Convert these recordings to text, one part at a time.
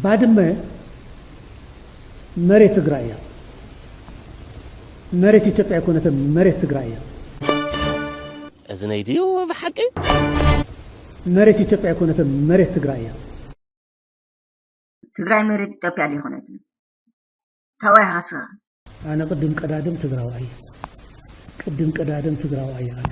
ባድመ መሬት ትግራይ እያ። መሬት ኢትዮጵያ ኣይኮነትን፣ መሬት ትግራይ እያ። እዝነይ ድዩ ብሓቂ መሬት ኢትዮጵያ ኣይኮነትን፣ መሬት ትግራይ እያ። ትግራይ መሬት ኢትዮጵያ ኣይኮነትን። ተዋሃሰ። ኣነ ቅድም ቀዳድም ትግራዋይ እየ። ቅድም ቀዳድም ትግራዋይ እየ ኣነ።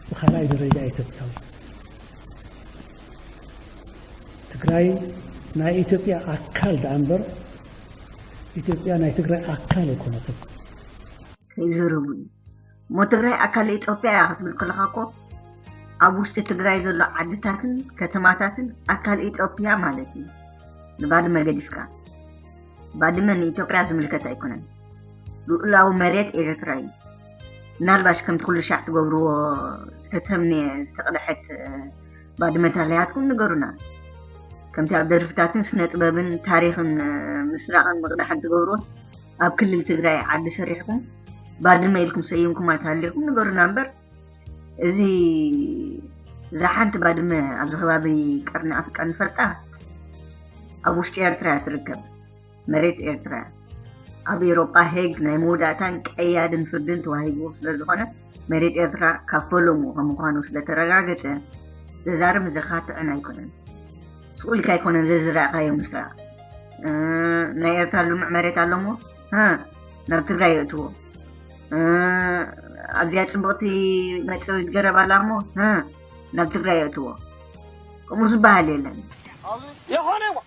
ብካልኣይ ደረጃ ኢትዮጵያዊ። ትግራይ ናይ ኢትዮጵያ ኣካል ደኣ እምበር ኢትዮጵያ ናይ ትግራይ ኣካል ኣይኮነትን። ከይዘረቡኒ እሞ ትግራይ ኣካል ኢትዮጵያ እያ ክትብል ከለካ እኮ ኣብ ውሽጢ ትግራይ ዘሎ ዓድታትን ከተማታትን ኣካል ኢትዮጵያ ማለት እዩ ንባድመ ገዲፍካ ባድመ ንኢትዮጵያ ዝምልከት ኣይኮነን ልኡላዊ መሬት ኤርትራ እዩ ምናልባሽ ከምቲ ኩሉ ሻዕ ትገብርዎ ዝተተምንየ ዝተቕደሐት ባድመ ታለያትኩም ንገሩና ከምቲ ኣብ ደርፍታትን ስነ ጥበብን ታሪክን ምስራቅን ምቕዳሕን ትገብርዎስ ኣብ ክልል ትግራይ ዓዲ ሰሪሕኩም ባድመ ኢልኩም ሰይምኩም ኣይተሃሊኹም ንገሩና እምበር እዚ እዛ ሓንቲ ባድመ ኣብዚ ከባቢ ቀርኒ ኣፍሪቃ ንፈልጣ ኣብ ውሽጢ ኤርትራ እያ ትርከብ መሬት ኤርትራ ኣብ ኤሮጳ ሄግ ናይ መወዳእታን ቀያድን ፍርድን ተዋሂብዎ ስለ ዝኾነ መሬት ኤርትራ ካብ ፈለሙ ከም ምዃኑ ስለ ተረጋገጸ፣ ዘዛርብ ዘኻ ጥዕና ኣይኮነን። ስቁ ኢልካ ኣይኮነን ዘዝረኣኻዮ ምስራቕ ናይ ኤርትራ ልሙዕ መሬት ኣሎ እሞ ናብ ትግራይ የእትዎ ኣብዚኣ ፅቡቕቲ መፅረዊት ገረብ ኣላ እሞ ናብ ትግራይ የእትዎ ከምኡ ዝበሃል የለን ዝኾነ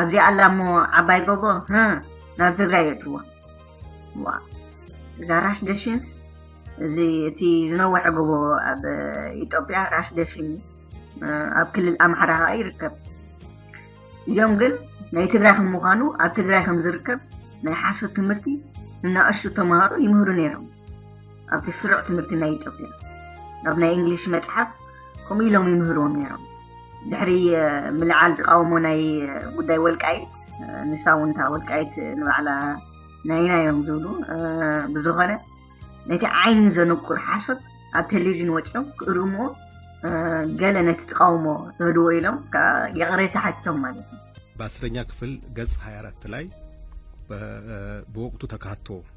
ኣብዚኣ ኣላ እሞ ዓባይ ጎቦ ናብ ትግራይ የእትዎ ዋ እዛ ራሽ ደሽንስ እዚ እቲ ዝነወሐ ጎቦ ኣብ ኢትዮጵያ ራሽ ደሽን ኣብ ክልል ኣምሓራ ከዓ ይርከብ እዚኦም ግን ናይ ትግራይ ከም ምዃኑ ኣብ ትግራይ ከም ዝርከብ ናይ ሓሶት ትምህርቲ እናእሹ ተምሃሮ ይምህሩ ነይሮም ኣብቲ ስሩዕ ትምህርቲ ናይ ኢትዮጵያ ናብ ናይ እንግሊሽ መፅሓፍ ከምኡ ኢሎም ይምህርዎም ነይሮም ድሕሪ ምልዓል ተቃውሞ ናይ ጉዳይ ወልቃይት ንሳ እውን እታ ወልቃይት ንባዕላ ናይና እዮም ዝብሉ ብዝኾነ ነቲ ዓይኒ ዘንቁር ሓሶት ኣብ ቴሌቭዥን ወፂኦም ክእርምዎ ገለ ነቲ ተቃውሞ ዝህድዎ ኢሎም ይቕሬታ ሓቲቶም ማለት እዩ በአስረኛ ክፍል ገጽ 24 ላይ በወቅቱ ተካቶ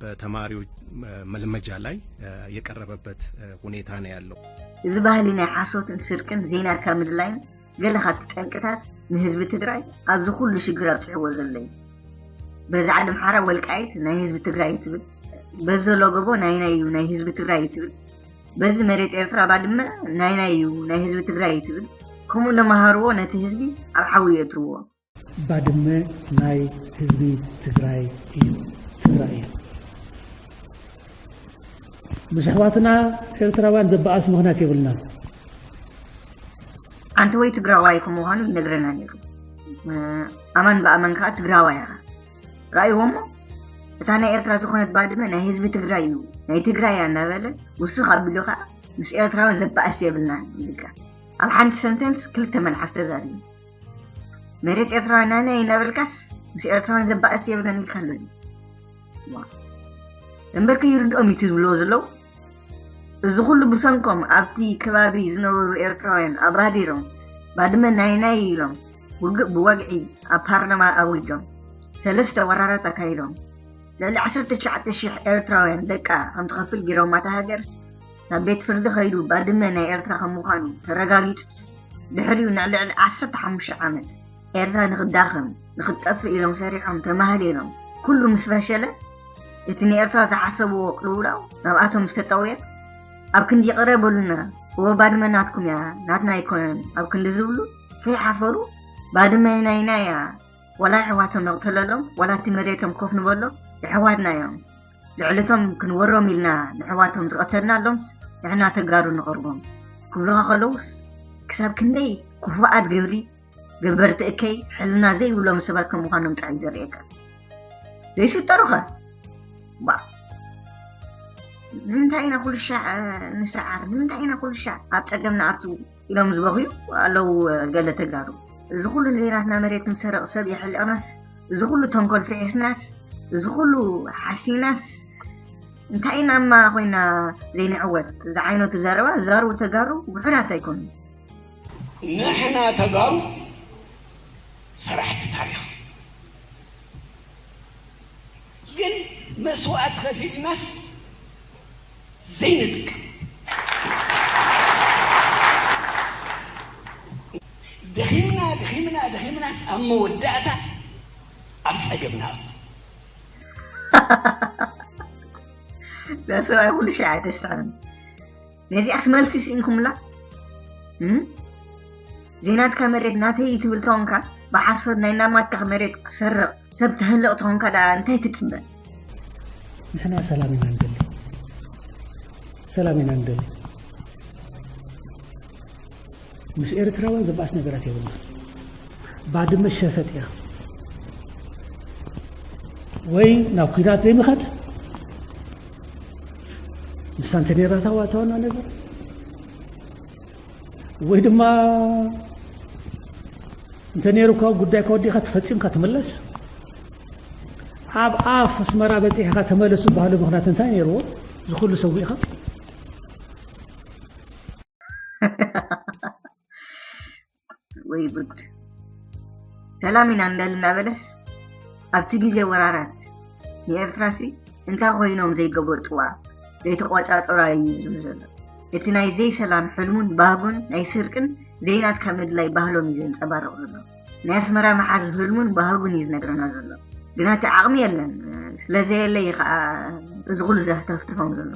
በተማሪዎች መልመጃ ላይ የቀረበበት ሁኔታ ነው ያለው። እዚ ባህሊ ናይ ሓሶትን ስርቅን ዜና ካብ ምድላይን ገለ ካብቲ ጠንቅታት ንህዝቢ ትግራይ ኣብዚ ኩሉ ሽግር ኣብፅሕዎ ዘሎ እዩ በዛ ዓዲ ምሓራ ወልቃይት ናይ ህዝቢ ትግራይ ትብል በዚ ዘሎ ጎቦ ናይ ናይ እዩ ናይ ህዝቢ ትግራይ ትብል በዚ መሬት ኤርትራ ባድመ ናይ ናይ እዩ ናይ ህዝቢ ትግራይ ትብል ከምኡ እናመሃርዎ ነቲ ህዝቢ ኣብ ሓዊ የእትርዎ ባድመ ናይ ህዝቢ ትግራይ እዩ ትግራይ እያ ምስ ኣሕዋትና ኤርትራውያን ዘበኣስ ምክንያት የብልናን። ኣንተ ወይ ትግራዋይ ከም ምዃኑ ይነግረና ነይሩ ኣማን ብኣማን ከዓ ትግራዋይ ኢኻ ራእይዎ እሞ እታ ናይ ኤርትራ ዝኾነት ባድመ ናይ ህዝቢ ትግራይ እዩ ናይ ትግራይ እያ እናበለ ውሱኽ ኣቢሉ ከዓ ምስ ኤርትራዊ ዘበኣስ የብልና ይብል ኣብ ሓንቲ ሰንተንስ ክልተ መልሓስ ተዛሪቡ መሬት ኤርትራ ናነ ይነበልካስ ምስ ኤርትራን ዘባእስ የብለን ኢልካ ኣሎ እምበር ከይርድኦም እዩ ዝብልዎ ዘለዉ እዚ ኩሉ ብሰንኮም ኣብቲ ከባቢ ዝነበሩ ኤርትራውያን ኣብራዲሮም ባድመ ናይ ናይ ኢሎም ውግእ ብወግዒ ኣብ ፓርላማ ኣዊጆም ሰለስተ ወራራት ኣካይዶም ልዕሊ 19 ሽሕ ኤርትራውያን ደቃ ከምትኸፍል ጌሮማ እታ ሃገርስ ናብ ቤት ፍርዲ ከይዱ ባድመ ናይ ኤርትራ ከም ምዃኑ ተረጋጊጹስ ድሕሪኡ ንልዕሊ ዓሰርተ ሓሙሽተ ዓመት ኤርትራ ንኽዳኸም ንኽትጠፍእ ኢሎም ሰሪሖም ተማህሊሎም ኩሉ ምስ ፈሸለ እቲ ንኤርትራ ዝሓሰብዎ ቅልውላው ናብኣቶም ምስ ተጠውየት ኣብ ክንዲ ይቕረ በሉና እወ ባድመ ናትኩም እያ ናትና ኣይኮነን ኣብ ክንዲ ዝብሉ ከይሓፈሩ ባድመ ናይና እያ ዋላ ኣሕዋቶም ነቕተለሎም ዋላ እቲ መሬቶም ኮፍ ንበሎም ኣሕዋትና እዮም ልዕሊቶም ክንወሮም ኢልና ነሕዋቶም ዝቐተልናሎምስ ንሕና ተጋሩ ንቐርቦም ክብሉኻ ከለዉስ ክሳብ ክንደይ ክፉኣት ግብሪ ገበርቲ እከይ ሕልና ዘይብሎም ሰባት ከም ምዃኖም ጥራይ ዘርእየካ ዘይፍጠሩኸ ባእ ንምንታይ ኢና ኩልሻዕ ንስዓር ንምንታይ ኢና ኩልሻዕ ኣብ ፀገምና ኣቱ ኢሎም ዝበኽዩ ኣለዉ ገለ ተጋሩ። እዚ ኩሉ ንዜናትና መሬት ንሰርቕ ሰብ የሕልቕናስ፣ እዚ ኩሉ ተንኮል ፍሒስናስ፣ እዚ ኩሉ ሓሲናስ እንታይ ኢና እማ ኮይና ዘይንዕወት? ዝዓይነቱ ዘረባ ዝዛረቡ ተጋሩ ውሑዳት ኣይኮኑን። ንሕና ተጋሩ ሰራሕቲ ታሪኽ ግን መስዋእቲ ከፊልናስ፣ ዘይንጥቀም ደኺምና ደኺምና ደኺምናስ ኣብ መወዳእታ ኣብ ፀገም ንኣቱ። ሰብኣይ ኩሉ ሻዕ ኣይተስዕርን ነዚኣስ መልሲ ስኢንኩምላ እም? ዜናትካ መሬት ናተይ እዩ ትብል ተኾንካ ብሓሶት ናይ ናማትካ መሬት ክትሰርቕ ሰብ ተህልቕ ተኾንካ ደኣ እንታይ ትጽበ? ንሕና ሰላም ኢና ንደሊ ሰላም ኢና ንደሊ ምስ ኤርትራውያን ዘባእስ ነገራት የብልና ባድመ ሸፈጥ እያ ወይ ናብ ኩናት ዘይምኻድ ንሳንተ ነራታ ዋታዋና ነገር ወይ ድማ እንተ ነይሩካ ጉዳይካ ወዲእካ ተፈፂምካ ትምለስ ኣብ ኣፍ ኣስመራ በፂሕካ ተመለስ ዝበሃሉ ምክንያት እንታይ ነይርዎ እዚ ኩሉ ሰዊእካ ወይ ጉድ ሰላም ኢና እንዳል እናበለስ ኣብቲ ግዜ ወራራት ንኤርትራሲ እንታይ ኮይኖም ዘይገበርጥዋ ዘይተቆፃጠራ እዩ ዝብሉ ዘሎ እቲ ናይ ዘይሰላም ሕልሙን ባህጉን ናይ ስርቅን ዘይናትካ ምድላይ ባህሎም እዩ ዘንጸባርቕ ዘሎ። ናይ ኣስመራ ምሓዝ ህልሙን ባህጉን እዩ ዝነግረና ዘሎ። ግና እቲ ዓቕሚ የለን። ስለዘየለ እዩ ከኣ እዚ ኩሉ ዘህተፍትፎም ዘሎ።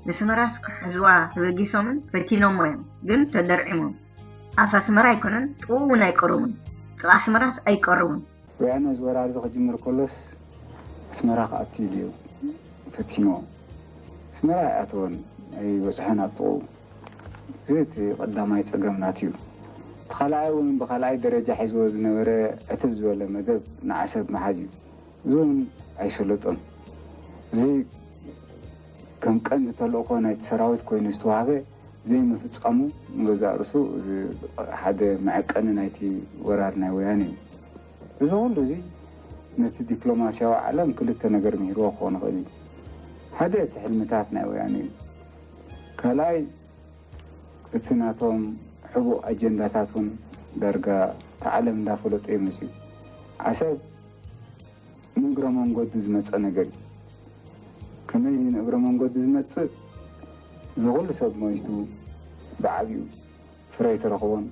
ንስመራስ ክሕዝዋ ተበጊሶምን ፈቲኖሞ እዮም፣ ግን ተደርዒሞም። ኣፍ ኣስመራ ኣይኮነን ጥቕኡ እውን ኣይቀረቡን። ጥቓ ኣስመራስ ኣይቀረቡን። ወያነ እዚ ወራርዚ ክጅምር ከሎስ ኣስመራ ክኣቱ ኢሉ እዩ ፈቲንዎ ኣስመራ ኣይኣተወን ኣይበጽሖን ኣብ ጥቕኡ እዚ እቲ ቀዳማይ ጸገም ናቱ እዩ እቲ ካልኣይ እውን ብካልኣይ ደረጃ ሒዝዎ ዝነበረ ዕትብ ዝበለ መደብ ንዓሰብ ምሓዝ እዩ እዚ እውን ኣይሰለጦን እዚ ከም ቀንዲ ተልእኾ ናይቲ ሰራዊት ኮይኑ ዝተዋህበ ዘይምፍጻሙ ንገዛእ ርእሱ ሓደ መዐቀኒ ናይቲ ወራር ናይ ወያነ እዩ። እዚ ኹሉ እዚ ነቲ ዲፕሎማሲያዊ ዓለም ክልተ ነገር ምሂርዎ ክኾን ይኽእል እዩ። ሓደ እቲ ሕልምታት ናይ ወያነ እዩ። ካልኣይ እቲ ናቶም ሕቡእ ኣጀንዳታት እውን ዳርጋ እቲ ዓለም እንዳፈለጦ እዩ መጺኡ። ዓሰብ። ንእግረ መንጎዲ ዝመጸ ነገር እዩ። ከመይ ድዩ ንእግረ መንጎዲ ዝመጽእ? እዚ ኩሉ ሰብ ሞይቱ፣ ብዓቢኡ ፍረ ኣይተረኽቦን፣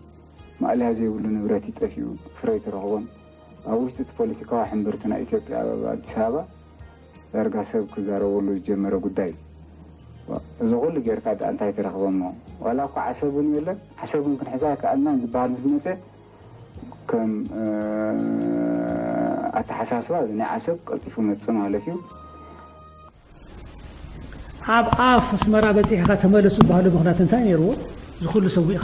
ማእለያ ዘይብሉ ንብረት እዩ ጠፊኡ፣ ፍረ ኣይተረኽቦን። ኣብ ውሽጢ እቲ ፖለቲካዊ ሕምብርቲ ናይ ኢትዮጵያ ኣብ ኣዲስ ኣበባ ዳርጋ ሰብ ክዛረበሉ ዝጀመረ ጉዳይ እዩ። ዋእ እዚ ኩሉ ጌርካ ድኣ እንታይ ተረኽበ'ሞ ዋላ እኳ ዓሰብ እውን የለን፣ ዓሰብ እውን ክንሕዛ ኣይከኣልናን ዝበሃል ምስ መጸ፣ ከም ኣተሓሳስባ እዚ ናይ ዓሰብ ቀልጢፉ ይመጽእ ማለት እዩ። ኣብ ኣፍ ኣስመራ በጺሕኻ ተመለስ ዝበሃሉ ምኽንያት እንታይ ነይርዎ? እዚ ኩሉ ሰዊእኻ?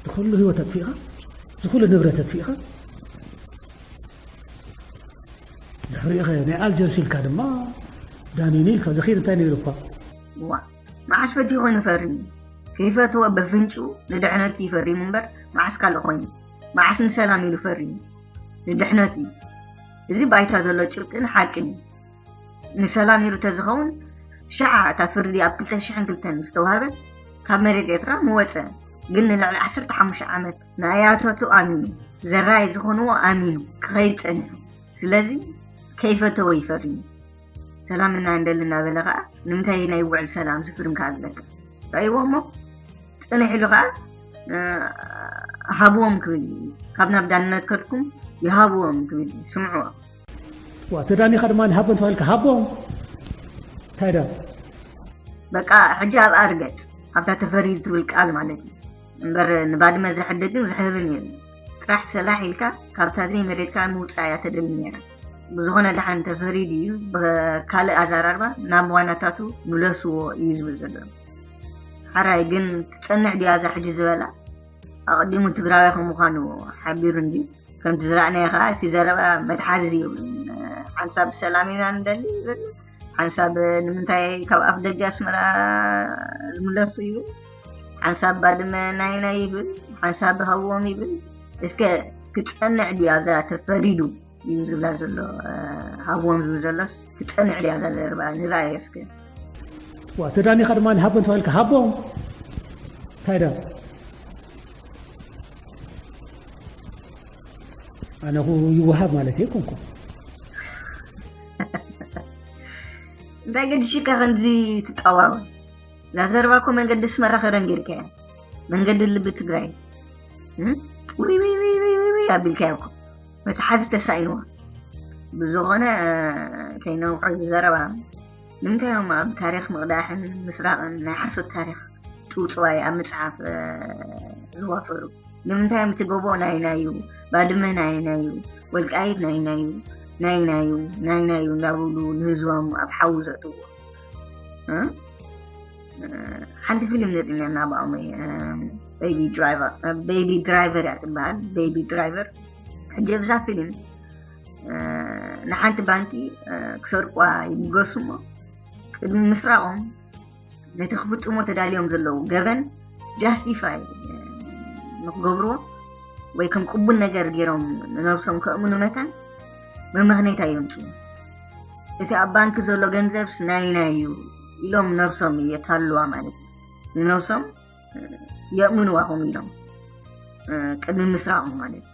ዝኩሉ ህይወት ኣጥፊእኻ? ዝኩሉ ንብረት ኣጥፊእኻ? ድሕሪኡኸ ናይ ኣልጀርስ ኢልካ ድማ ዳኒኒ ኢልካ ዘኺር እንታይ ነይሩ እኳ። እዋእ መዓስ ፈትዩ ኮይኑ ፈሪ ከይፈትወ በፍንጭኡ ንድሕነት እዩ ፈሪሙ እምበር መዓስ ካልእ ኮይኑ መዓስ ንሰላም ኢሉ ፈሪሙ ንድሕነት እዩ እዚ ባይታ ዘሎ ጭብጥን ሓቅን እዩ ንሰላም ኢሉ ተዝኸውን ሸዓ እታ ፍርዲ ኣብ 2002 ዝተዋህበት ካብ መሬት ኤርትራ ምወፀ ግን ንልዕሊ 15 ዓመት ንኣያታቱ ኣሚኑ ዘራይ ዝኾንዎ ኣሚኑ ክኸይድ ጸኒሑ ስለዚ ከይፈተወ ይፈርዩ ሰላም እና እንደሊ እናበለ ከዓ ንምንታይ ናይ ውዕል ሰላም ዝፍርም ከዓ ዝበልካ ርእይዎ እሞ ፅንሕ ኢሉ ከዓ ሃብዎም ክብል እዩ ካብ ናብ ዳንነት ከድኩም ይሃብዎም ክብል እዩ ስምዕዎ ዋ ተዳኒኻ ድማ ንሃቦ እንተባልካ ሃቦም እንታይ ዳ በቃ ሕጂ ኣብኣ ርገፅ ኣብታ ተፈሪ ዝብል ቃል ማለት እዩ እምበር ንባድመ ዘሕድግን ዘሕርርን የለን። ጥራሕ ሰላሕ ኢልካ ካብታ ዘይመሬትካ ምውጻእ እያ ተደሊ ነይራ። ብዝኾነ ደሓን ተፈሪዱ እዩ፣ ብካልእ ኣዘራርባ ናብ ዋናታቱ ምለስዎ እዩ ዝብል ዘሎ። ሓራይ ግን ትጸንዕ ድያ ኣብዛ ሕጂ ዝበላ? ኣቐዲሙ ትግራዋይ ከም ምዃኑ ሓቢሩ እንድዩ። ከምቲ ዝረኣናዮ ከኣ እቲ ዘረባ መትሓዚ የብሉን። ሓንሳብ ሰላም ኢና ንደሊ ይብል፣ ሓንሳብ ንምንታይ ካብ ኣፍ ደገ ኣስመራ ዝምለሱ ይብል፣ ሓንሳብ ባድመ ናይ ናይ ይብል፣ ሓንሳብ ሃዎም ይብል። እስከ ክፀንዕ ድዩ ኣብዛ ተፈሪዱ እዩ ዝብላ ዘሎ ሃዎም ዝብል ዘሎስ ክፀንዕ ድዩ ኣብዛ ዘረባ ንርኣዮ እስከ ዋ ተዳኒኻ ድማ ሃቦም ተባሂልካ ሃቦም እንታይ ዳ ኣነኹ ይወሃብ ማለት እየ ኮንኩ እንታይ ገዲሽካ ከምዚ ትጻዋወ ላዘረባ እኮ መንገዲ ኣስመራ ከደን ጌርካያ መንገዲ ልቢ ትግራይ ውይውይውይውይ ኣቢልካያ እኮ መትሓዚ ተሳኢንዋ ብዝኾነ ከይነውሖ ዝዘረባ ንምንታይ እዮም ኣብ ታሪክ ምቕዳሕን ምስራቕን ናይ ሓሶት ታሪክ ጥውፅዋይ ኣብ ምፅሓፍ ዝዋፈሩ ንምንታይ እዮም እቲ ጎቦ ናይና እዩ ባድመ ናይና እዩ ወልቃይት ናይና እዩ ናይና እዩ ናይና እዩ እንዳብሉ ንህዝቦም ኣብ ሓዊ ዘእትዎ ሓንቲ ፊልም ዘጥኛና ብኣሞ ቤቢ ድራይቨር ቤቢ ድራይቨር እያ ትበሃል ቤቢ ድራይቨር ሕጂ ኣብዛ ፊልም ንሓንቲ ባንኪ ክሰርቋ ይብገሱ እሞ ቅድሚ ምስራቆም ነቲ ክፍፅሞ ተዳልዮም ዘለዉ ገበን ጃስቲፋይ ንክገብርዎ ወይ ከም ቅቡል ነገር ገይሮም ንነብሶም ከእምኑ መታን መመኽነይታ የምፁ እቲ ኣብ ባንኪ ዘሎ ገንዘብስ ናይና እዩ ኢሎም ነብሶም የታልዋ ማለት እዩ ንነብሶም የእምንዋ ከምኡ ኢሎም ቅድሚ ምስራቆም ማለት እዩ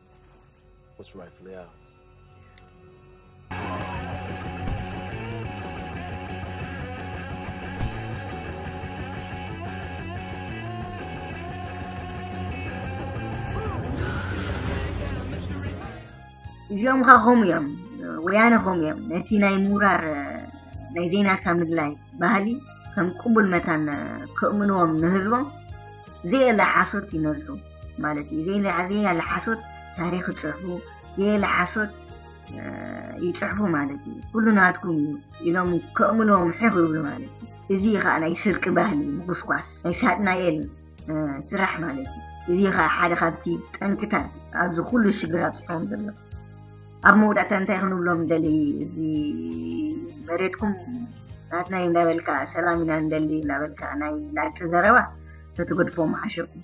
What's rightfully ours? እዚኦም ከዓ ከምኡ እዮም ወያነ ከምኡ እዮም ነቲ ናይ ምውራር ናይ ዜናካ ምድላይ ባህሊ ከም ቅቡል መታን ከእምንዎም ንህዝቦም ዘየለ ሓሶት ይነዙ ማለት እዩ ዘየለ ሓሶት ታሪክ ይፅሕፉ ዘየለ ሓሶት ይፅሕፉ ማለት እዩ ኩሉ ናትኩም እዩ ኢሎም ከእምኖም ሕኽ ይብሉ ማለት እዩ እዚ ከዓ ናይ ስርቂ ባህሊ ምጉስኳስ ናይ ሳጥናኤል ስራሕ ማለት እዩ እዚ ከዓ ሓደ ካብቲ ጠንክታት ኣብዚ ኩሉ ሽግር ኣብፅሖም ዘሎ ኣብ መውዳእታ እንታይ ክንብሎም ደሊ እዚ መሬትኩም ናትና እንዳበልካ ሰላም ኢና ንደሊ እንዳበልካ ናይ ላግፂ ዘረባ ተትገድፎ ምሓሸኩም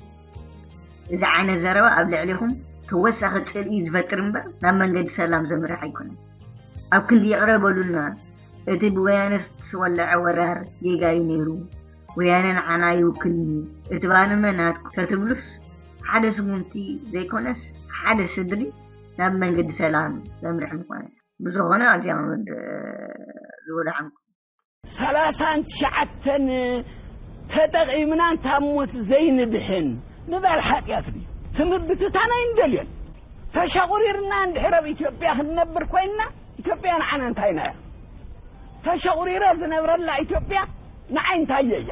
እዚ ዓይነት ዘረባ ኣብ ልዕሊኹም ተወሳኺ ጽልኢ ዝፈጥር እምበር ናብ መንገዲ ሰላም ዘምርሕ ኣይኮነን። ኣብ ክንዲ ይቕረ በሉልና እቲ ብወያነ ዝተወለዐ ወራር ጌጋ እዩ ነይሩ፣ ወያነ ንዓና ይውክልኒ እቲ ባንመ ናትኩ ተትብሉስ ሓደ ስጉምቲ ዘይኮነስ ሓደ ስድሪ ናብ መንገዲ ሰላም ዘምርሕ ምኾነ። ብዝኾነ ኣዚያ መወድ ዝወዳሕንኩም። ሰላሳን ትሽዓተን ተጠቒምናን ካብ ሞት ዘይንድሕን ምባል ሓጢኣት ድዩ? ክምብትታን ኣይንደልዮን። ተሸቑሪርና እንድሕር ኣብ ኢትዮጵያ ክንነብር ኮይንና ኢትዮጵያ ንዓና እንታይና እያ? ተሸቑሪረ ዝነብረላ ኢትዮጵያ ንዓይ እንታየ እያ?